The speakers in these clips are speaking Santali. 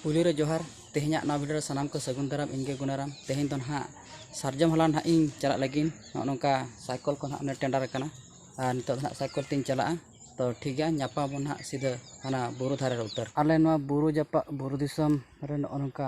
ᱯᱩᱭᱞᱩ ᱨᱮ ᱡᱚᱦᱟᱨ ᱛᱮᱦᱮᱧᱟᱜ ᱱᱚᱣᱟ ᱵᱷᱤᱰᱤᱭᱳ ᱨᱮ ᱥᱟᱱᱟᱢ ᱠᱚ ᱥᱟᱹᱜᱩᱱ ᱫᱟᱨᱟᱢ ᱤᱧ ᱜᱮ ᱜᱩᱱᱟᱨᱟᱢ ᱛᱮᱦᱮᱧ ᱫᱚ ᱱᱟᱦᱟᱜ ᱥᱟᱨᱡᱚᱢ ᱦᱟᱞᱟᱝ ᱱᱟᱦᱟᱜ ᱤᱧ ᱪᱟᱞᱟᱜ ᱞᱟᱹᱜᱤᱫ ᱱᱚᱜᱼᱚ ᱱᱚᱝᱠᱟ ᱥᱟᱭᱠᱚᱞ ᱠᱚ ᱱᱟᱦᱟᱜ ᱴᱮᱱᱰᱟᱨ ᱟᱠᱟᱱᱟ ᱟᱨ ᱱᱤᱛᱚᱜ ᱫᱚ ᱱᱟᱦᱟᱜ ᱥᱟᱭᱠᱚᱞ ᱛᱤᱧ ᱪᱟᱞᱟᱜᱼᱟ ᱛᱚ ᱴᱷᱤᱠ ᱜᱮᱭᱟ ᱧᱟᱯᱟᱢ ᱟᱵᱚᱱ ᱱᱟᱦᱟᱜ ᱥᱤᱫᱷᱟᱹ ᱦᱟᱱᱟ ᱵᱩᱨᱩ ᱫᱷᱟᱨᱮ ᱨᱮ ᱩᱛᱟᱹᱨ ᱟᱞᱮ ᱱᱚᱣᱟ ᱵᱩᱨᱩ ᱡᱟᱯᱟᱜ ᱵᱩᱨᱩ ᱫᱤᱥᱚᱢ ᱨᱮ ᱱᱚᱜᱼᱚ ᱱᱚᱝᱠᱟ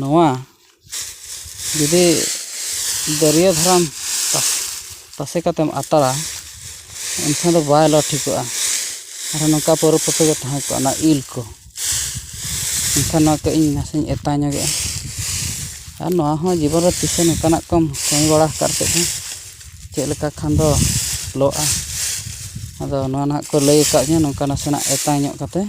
ᱱᱚᱣᱟ ᱡᱩᱫᱤ ᱫᱟᱹᱨᱭᱟᱹ ᱫᱷᱟᱨᱟᱢ ᱛᱟᱥᱮ ᱠᱟᱛᱮᱢ ᱟᱛᱟᱨᱟ ᱮᱱᱠᱷᱟᱱ ᱫᱚ ᱵᱟᱭ ᱞᱚ ᱴᱷᱤᱠᱚᱜᱼᱟ ᱟᱨ ᱱᱚᱝᱠᱟ ᱯᱟᱹᱣᱨᱟᱹ ᱯᱟᱹᱛᱤ ᱜᱮ ᱛᱟᱦᱮᱸ ᱠᱚᱜᱼᱟ ᱚᱱᱟ ᱤᱞ ᱠᱚ ᱮᱱᱠᱷᱟᱱ ᱱᱚᱣᱟ ᱠᱟᱹᱡ ᱤᱧ ᱱᱟᱥᱮᱧ ᱮᱛᱟ ᱧᱚᱜᱮᱜᱼᱟ ᱟᱨ ᱱᱚᱣᱟ ᱦᱚᱸ ᱡᱤᱵᱚᱱ ᱨᱮ ᱛᱤᱥ ᱦᱚᱸ ᱱᱚᱝᱠᱟᱱᱟᱜ ᱠᱚᱢ ᱠᱟᱹᱢᱤ ᱵᱟᱲᱟ ᱟᱠᱟᱫ ᱪᱮᱫ ᱦᱚᱸ ᱪᱮᱫ ᱞᱮᱠᱟ ᱠᱷᱟᱱ ᱫᱚ ᱞᱚᱜᱼᱟ ᱟᱫᱚ ᱱᱚᱣᱟ ᱱᱟᱦᱟᱜ ᱠᱚ ᱞᱟᱹᱭ ᱟᱠᱟᱫᱤᱧᱟᱹ ᱱᱚᱝᱠᱟ ᱱᱟᱥᱮᱱᱟᱜ ᱮᱛᱟ ᱧᱚᱜ ᱠᱟᱛᱮᱫ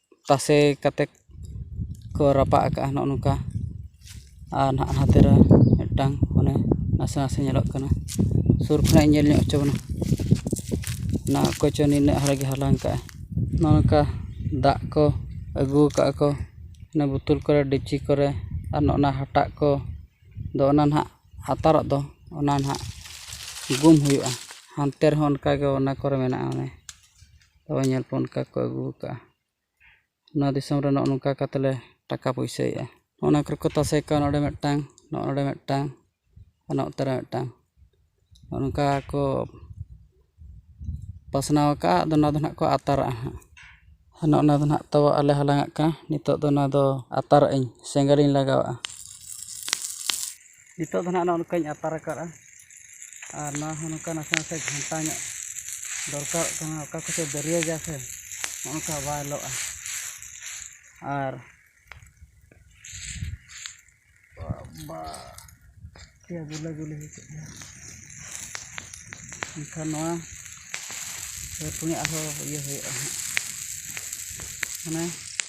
ᱛᱟᱥᱮ ᱠᱟᱛᱮᱫ ᱠᱚ ᱨᱟᱯᱟᱜ ᱟᱠᱟᱫᱼᱟ ᱱᱚᱜᱼᱚ ᱱᱚᱝᱠᱟ ᱟᱨ ᱱᱟᱦᱟᱜ ᱦᱟᱱᱛᱮ ᱨᱮ ᱢᱤᱫᱴᱟᱱ ᱚᱱᱮ ᱱᱟᱥᱮ ᱱᱟᱥᱮ ᱧᱮᱞᱚᱜ ᱠᱟᱱᱟ ᱥᱩᱨ ᱠᱷᱚᱱᱟᱜ ᱤᱧ ᱧᱮᱞ ᱧᱚᱜ ᱦᱚᱪᱚ ᱵᱚᱱᱟ ᱚᱱᱟ ᱚᱠᱚᱭ ᱪᱚ ᱱᱤᱱᱟᱹᱜ ᱦᱟᱨᱟ ᱜᱮ ᱦᱟᱞᱟᱝ ᱟᱠᱟᱫᱼᱟᱭ ᱱᱚᱜᱼᱚ ᱱᱚᱝᱠᱟ ᱫᱟᱜ ᱠᱚ ᱟᱹᱜᱩ ᱟᱠᱟᱫᱼᱟ ᱠᱚ ᱚᱱᱟ ᱵᱳᱛᱳᱞ ᱠᱚᱨᱮ ᱰᱮᱠᱪᱤ ᱠᱚᱨᱮ ᱟᱨ ᱱᱚᱜᱼᱚ ᱱᱟ ᱦᱟᱴᱟᱜ ᱠᱚ ᱫᱚ ᱚᱱᱟ ᱱᱟᱦᱟᱜ ᱟᱛᱟᱨᱟᱜ ᱫᱚ ᱚᱱᱟ ᱱᱟᱦᱟᱜ ᱜᱩᱢ ᱦᱩᱭᱩᱜᱼᱟ ᱦᱟᱱᱛᱮ ᱨᱮᱦᱚᱸ ᱚᱱᱠᱟᱜᱮ ᱚᱱᱟ ᱠᱚᱨᱮ ᱢᱮᱱᱟᱜᱼᱟ ᱚᱱᱮ ᱛᱚᱵᱮ ᱧᱮᱞ ᱯᱮ ᱚᱱᱠᱟ ᱠᱚ ᱟᱹᱜᱩ ᱠᱟᱜᱼᱟ ᱚᱱᱟ ᱫᱤᱥᱚᱢ ᱨᱮ ᱱᱚᱜᱼᱚ ᱱᱚᱝᱠᱟ ᱠᱟᱛᱮ ᱞᱮ ᱴᱟᱠᱟ ᱯᱩᱭᱥᱟᱹᱭᱮᱜᱼᱟ ᱚᱱᱟ ᱠᱚᱨᱮ ᱠᱚ ᱛᱟᱥᱮ ᱠᱟᱜᱼᱟ ᱱᱚᱰᱮ ᱢᱤᱫᱴᱟᱝ ᱱᱚᱰᱮ ᱢᱤᱫᱴᱟᱝ ᱚᱱᱟ ᱚᱠᱛᱮ ᱨᱮ ᱢᱤᱫᱴᱟᱝ ᱚᱱᱠᱟ ᱠᱚ ᱯᱟᱥᱱᱟᱣ ᱠᱟᱜᱼᱟ ᱟᱫᱚ ᱚᱱᱟ ᱫᱚ ᱦᱟᱸᱜ ᱠᱚ ᱟᱛᱟᱨᱟᱜᱼᱟ ᱦᱟᱸᱜ ᱚᱱᱮ ᱚᱱᱟ ᱫᱚ ᱦᱟᱸᱜ ᱛᱟᱣᱟ ᱟᱜ ᱞᱮ ᱦᱟᱞᱟᱝ ᱟᱜ ᱠᱟᱱᱟ ᱱᱤᱛᱚᱜ ᱫᱚ ᱚᱱᱟ ᱫᱚ ᱟᱛᱟᱨᱟᱜ ᱟᱹᱧ ᱥᱮᱸᱜᱮᱞ ᱤᱧ ᱞᱟᱜᱟᱣᱟᱜᱼᱟ ᱱᱤᱛᱚᱜ ᱫᱚ ᱱᱟᱦᱟᱜ ᱱᱚᱜᱼᱚ ᱱᱚᱝᱠᱟᱧ ᱟᱛᱟᱨ ᱟᱠᱟᱫᱼᱟ ᱟᱨ ᱱᱚᱣᱟ ᱦᱚᱸ ᱱᱚᱝᱠᱟ ᱱᱟᱥᱮ ᱱᱟᱥᱮ ᱜᱷᱟᱱᱴᱟ ᱧᱚᱜ ᱫᱚᱨᱠᱟᱨᱚᱜ ᱠᱟᱱᱟ ᱚᱠᱟ ᱠᱚᱥᱮᱡ ᱫᱟᱹᱨᱭᱟᱹ ᱜᱮᱭᱟ ᱥᱮ ᱱᱚᱜᱼᱚ ᱱᱚᱝᱠᱟ ᱵᱟᱭ ᱞᱚᱜᱼᱟ ᱟᱨ ᱵᱟᱵᱟ ᱪᱮᱫ ᱜᱩᱞᱟᱹ ᱜᱩᱞᱤ ᱦᱚᱪᱚᱜ ᱠᱟᱱᱟ ᱮᱱᱠᱷᱟᱱ ᱱᱚᱣᱟ ᱯᱩᱱᱭᱟᱹ ᱟᱨᱦᱚᱸ ᱤᱭᱟᱹ ᱦᱩᱭᱩᱜᱼᱟ ᱦᱟᱸᱜ ᱢᱟᱱᱮ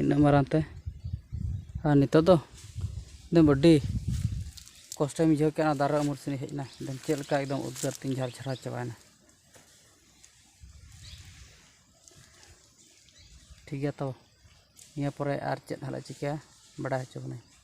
ᱤᱱᱟᱹᱜ ᱢᱟᱨᱟᱝ ᱛᱮ ᱟᱨ ᱱᱤᱛᱚᱜ ᱫᱚ ᱮᱠᱫᱚᱢ ᱟᱹᱰᱤ ᱠᱚᱥᱴᱚᱧ ᱵᱩᱡᱷᱟᱹᱣ ᱠᱮᱫᱼᱟ ᱫᱟᱨᱮ ᱩᱢᱩᱞ ᱥᱮᱫ ᱤᱧ ᱦᱮᱡ ᱮᱱᱟ ᱮᱠᱫᱚᱢ ᱪᱮᱫ ᱞᱮᱠᱟ ᱮᱠᱫᱚᱢ ᱩᱫᱽᱜᱟᱹᱨ ᱛᱤᱧ ᱡᱷᱟᱨ ᱡᱷᱟᱨᱟᱣ ᱪᱟᱵᱟᱭᱮᱱᱟ ᱴᱷᱤᱠ ᱜᱮᱭᱟ ᱛᱚ ᱱᱤᱭᱟᱹ ᱯᱚᱨᱮ ᱟᱨ ᱪᱮᱫ ᱦᱟᱸᱜ ᱞᱮ ᱪᱤᱠᱟᱹᱭᱟ ᱵᱟᱰᱟᱭ ᱦᱚᱪᱚ ᱵᱚᱱᱟᱹᱧ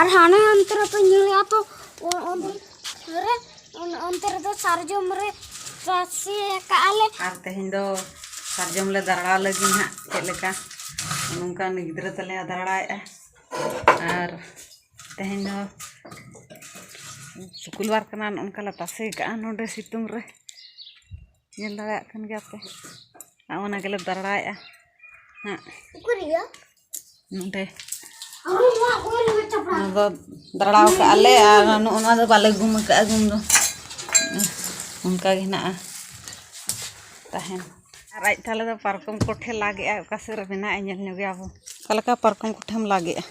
ᱟᱨ ᱦᱟᱱᱮ ᱚᱱᱛᱮ ᱨᱮᱯᱮ ᱧᱮᱞᱮᱜᱼᱟ ᱛᱚ ᱚᱱᱛᱮ ᱨᱮ ᱚᱱᱛᱮ ᱨᱮᱫᱚ ᱥᱟᱨᱡᱚᱢ ᱨᱮ ᱨᱟᱥᱮ ᱟᱠᱟᱜᱼᱟ ᱞᱮ ᱟᱨ ᱛᱮᱦᱮᱧ ᱫᱚ ᱥᱟᱨᱡᱚᱢ ᱞᱮ ᱫᱟᱨᱲᱟ ᱞᱟᱹᱜᱤᱫ ᱦᱟᱸᱜ ᱪᱮᱫ ᱞᱮᱠᱟ ᱱᱚᱝᱠᱟ ᱩᱱᱤ ᱜᱤᱫᱽᱨᱟᱹ ᱛᱟᱞᱮ ᱫᱟᱨᱲᱟᱭᱮᱜᱼᱟ ᱟᱨ ᱛᱮᱦᱮᱧ ᱫᱚ ᱥᱩᱠᱩᱞᱵᱟᱨ ᱠᱟᱱᱟ ᱚᱱᱠᱟ ᱞᱮ ᱛᱟᱥᱮ ᱠᱟᱜᱼᱟ ᱱᱚᱰᱮ ᱥᱤᱛᱩᱝ ᱨᱮ ᱧᱮᱞ ᱫᱟᱲᱮᱭᱟᱜ ᱠᱟᱱ ᱜᱮᱭᱟ ᱯᱮ ᱟᱨ ᱚᱱᱟ ᱜᱮᱞᱮ ᱫᱟᱬᱟᱭᱮᱫᱼᱟ ᱦᱮᱸ ᱱᱚᱰᱮ ᱚᱱᱟ ᱫᱚ ᱫᱟᱬᱟᱣ ᱠᱟᱜᱼᱟ ᱞᱮ ᱟᱨ ᱱᱚᱜᱼᱚ ᱱᱚᱣᱟ ᱫᱚ ᱵᱟᱞᱮ ᱜᱩᱢ ᱠᱟᱜᱼᱟ ᱜᱩᱢ ᱫᱚ ᱚᱱᱠᱟ ᱜᱮ ᱦᱮᱱᱟᱜᱼᱟ ᱛᱟᱦᱮᱱ ᱟᱨ ᱟᱡ ᱛᱟᱦᱞᱮ ᱫᱚ ᱯᱟᱨᱠᱚᱢ ᱠᱚᱴᱷᱮ ᱞᱟᱜᱮᱜᱼᱟ ᱚᱠᱟ ᱥᱮᱫ ᱨᱮ ᱢᱮᱱᱟᱜᱼᱟ ᱧᱮᱞ ᱧᱚᱜᱮᱭᱟ ᱵᱚ ᱚᱠᱟ ᱞᱮᱠᱟ ᱯᱟᱨᱠᱚᱢ ᱠᱚᱴᱷᱮᱢ ᱞᱟᱜᱮᱜᱼᱟ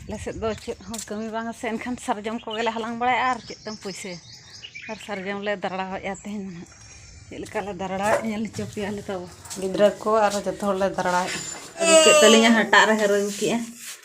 ᱟᱞᱮ ᱥᱮᱫ ᱫᱚ ᱪᱮᱫ ᱦᱚᱸ ᱠᱟᱹᱢᱤ ᱵᱟᱝᱟ ᱥᱮ ᱮᱱᱠᱷᱟᱱ ᱥᱟᱨᱡᱚᱢ ᱠᱚᱜᱮ ᱞᱮ ᱦᱟᱞᱟᱝ ᱵᱟᱲᱟᱭᱟ ᱟᱨ ᱪᱮᱫ ᱛᱮᱢ ᱯᱩᱭᱥᱟᱹᱭᱟ ᱟᱨ ᱥᱟᱨᱡᱚᱢ ᱞᱮ ᱫᱟᱨᱲᱟᱣᱮᱫᱼᱟ ᱛᱮᱦᱮᱧ ᱫᱚ ᱦᱟᱸᱜ ᱪᱮᱫ ᱞᱮᱠᱟ ᱞᱮ ᱫᱟᱨᱲᱟᱣᱮᱫᱼᱟ ᱧᱮᱞ ᱦᱚᱪᱚ ᱯᱮᱭᱟᱞᱮ ᱛᱟᱵᱚ ᱜᱤᱫᱽᱨᱟᱹ ᱠᱚ ᱟᱨ ᱡᱚᱛᱚ ᱦᱚᱲᱞᱮ ᱫᱟᱨᱲᱟᱣᱮᱫᱼᱟ ᱟᱹᱜᱩ ᱠᱮᱫ ᱛᱟᱹᱞᱤᱧᱟ ᱦᱟᱴᱟᱜ ᱨᱮ ᱦᱟᱹᱨ ᱟᱹᱜᱩ ᱠᱮᱫᱼᱟ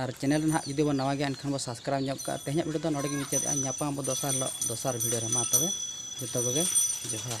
ᱟᱨ ᱪᱮᱱᱮᱞ ᱨᱮ ᱱᱟᱦᱟᱜ ᱡᱩᱫᱤ ᱵᱚᱱ ᱱᱟᱣᱟ ᱜᱮᱭᱟ ᱮᱱᱠᱷᱟᱱ ᱵᱚᱱ ᱥᱟᱵᱥᱠᱨᱟᱭᱤᱵᱽ ᱧᱚᱜ ᱠᱟᱜᱼᱟ ᱛᱮᱦᱮᱧᱟᱜ ᱵᱷᱤᱰᱤᱭᱳ ᱫᱚ ᱱᱚᱰᱮ ᱜᱮ ᱢᱩᱪᱟᱹᱫᱮᱜᱼᱟ ᱧᱟᱯᱟᱢ ᱟᱵᱚ ᱫᱚᱥᱟᱨ ᱦᱤᱞᱳᱜ ᱫᱚᱥᱟᱨ ᱵᱷᱤᱰᱤᱭᱳ ᱨᱮ ᱢᱟ ᱛᱚᱵᱮ ᱡᱚᱛᱚ ᱠᱚᱜᱮ ᱡᱚᱦᱟᱨ